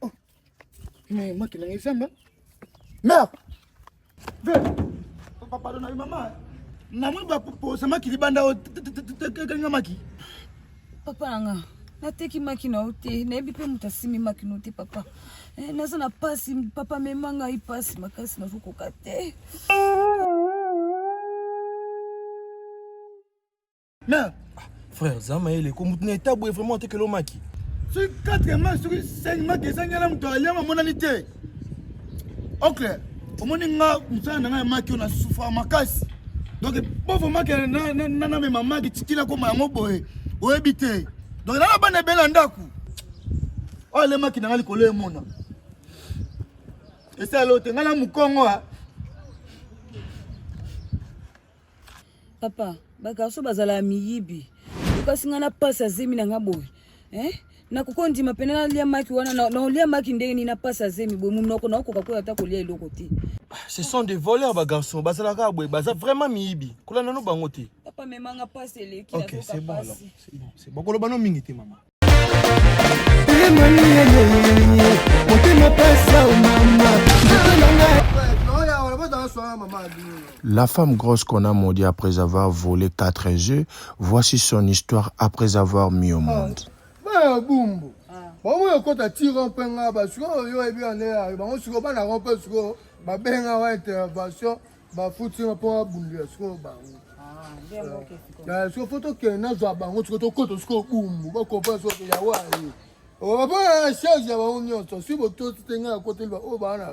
Oh. Mais moi qui n'ai jamais. Mère. Papa pardon na maman. Na mwe ba posa maki libanda o tekenga maki. Papa anga. nateki maki na yo te nayebi mpe moto asimi maki no te papa eh, naza na mpasi papa mema ngai mpasi makasi nazokoka te mais frère za mayele ko mutu na etat boye vraiment atekela omaki soki 4 mai soki 5 mai ezangi na moto aliama amonani te ocle omoni nga mosala na ngai ya maki oyo na sufra makasi donc bovo maki namema maki tikila koma yango boye oyebi te donc nana bana ebele ya ndako oyo alemaki na ngai likolo emona esala oyo te ngai na mokongo papa bagarso bazala ya miyibi okasi ngai na mpasi ya zemi na ngai boye eh? nakoki kondima mpena nalia maki wana naolia maki ndenge nini na mpasi ya zemi boye monoko naokoka koya ata kolia eloko te ce sont des voleurs bagarçon bazalaka boye baza vraiment miyibi kolanda no bango te papa memanga mpasi eleki okay, c'est bon, bon. bon. koloba no mingi te mama La femme grosse qu'on a maudit après avoir volé quatre œufs, voici son histoire après avoir mis au ah. monde. Bah, bango oyo ekota ti rompe nga basiko oyo oyebi ande bango siko bana rompe siko babenga wa intervention bafuti yo mpo abundela sikoyo bango ah, siko fo tokende nazwa bango siko tokota sikoyo bumbu bakopa soki ya waye bapona na charge ya bango nyonso si botosi te ngai akoteli ba oyo baa na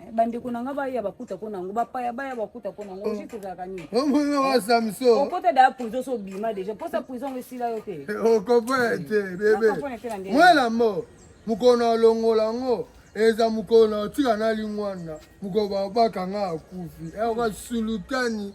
Eh, bandeko na nga baya bakuta ko nango bapaya baya bakuta ko nango juste ozalaka nini omonaka eh, samson okota daya prison so obima déjà mposa prison ngo esila yo te eh, okompone te bebe mwela mo mokolo alongola yango eza mokolo otika na lingwana mokolo babakanga akufi eoka sulutani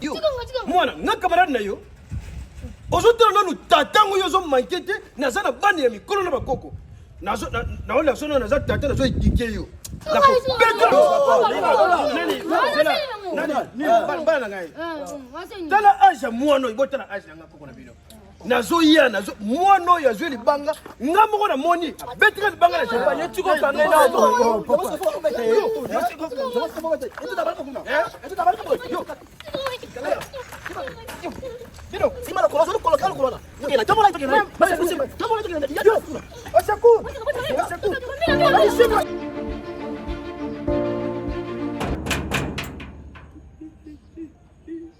yo mwana nga camarade na yo ozotala nanu tata ngo yo ozomanke te naza na bana ya mikolo na bakoko naola sono naza tata nazo edike yo bana na ngai tala age ya mwana oyo botala age na nga koko na bino nazoya nazo mwana oyo azwi libanga nga moko namoni abetika libanga na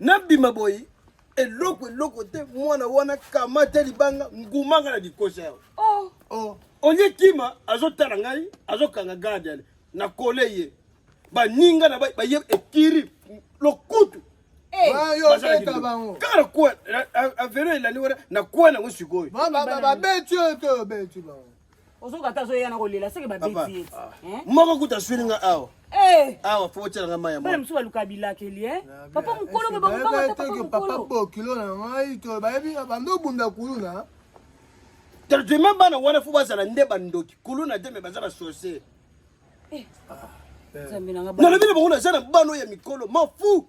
nabima boye eloko eloko te mwana wana kamata libanga ngumanga na likosa yao oh. oh. olie kima azotala ngai azokanga garde ale na kole ye baninga na baye ekiri lokutu eh. kaka nakua avelo elandi wana nakua nango sikoyo babeti oyo te obeti bango ozokata azoya na kolela seke babeti ye ah. eh? moko kuta asweli nga awa eh. awa fo otyela nga mai ya mwana mosusu baluka bilakeli e papa mokolo mpe bakokanga papa bokilo na ngai to bayebi bando obunda kuluna traitement bana wana fo bazala nde bandoki kuluna te me baza basorcier nalobi na bango naza na bana oyo ya mikolo mafu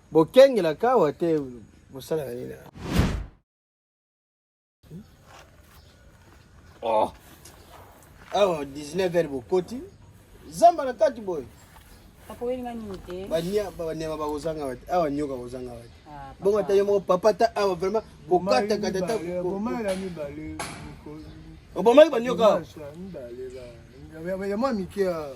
Bokengela kawa te bosala na nini? Oh. Awa 19 heures bokoti zamba na kati boye banyama bakozanga wati awa nyoka kozanga wati ah, bongo ata yo moko papa ta awa vraiment kokatakata ta obomaki banyoka awa ya mwa mike awa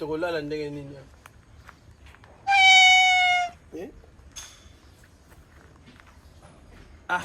tokolala ndenge nini eh? ah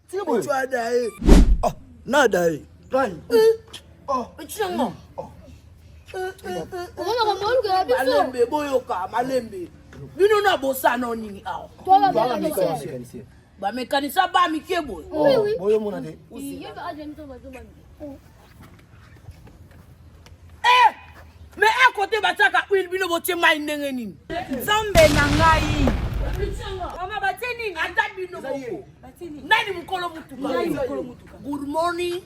malembe boyoka malembe bino na bosano nini awa bamekanisa ba mike boye Eh! me a kote batiaka huile bino botie mai ndenge nini nzambe na ngai mama batie nini ata bino moko nani mokolo motuka good morning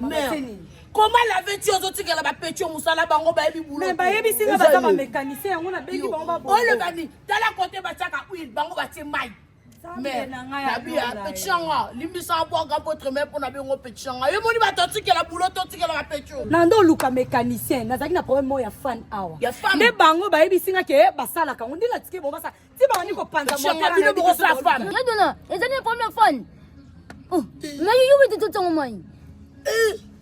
mère koma lave ti ozotikela bapetio mosala bango bayebi bulobayebisi nga baza bamécanicien yango nabengi bango baolobani tala kote batiaka huile bango batie mai mère nabia petit yanga limbisa abwaka mpotre me mpo na bengo petit yanga yo moni bato atikela bulo to otikela bapecho na nde oluka mécanicien nazalaki na problème moko ya fan awa nde bango bayebisi nga ke basalaka yango nde natike bango basala ti bandi kopanza motebino bokosala fan yadona ezali na problème ya fan nayoyobi te totongo mai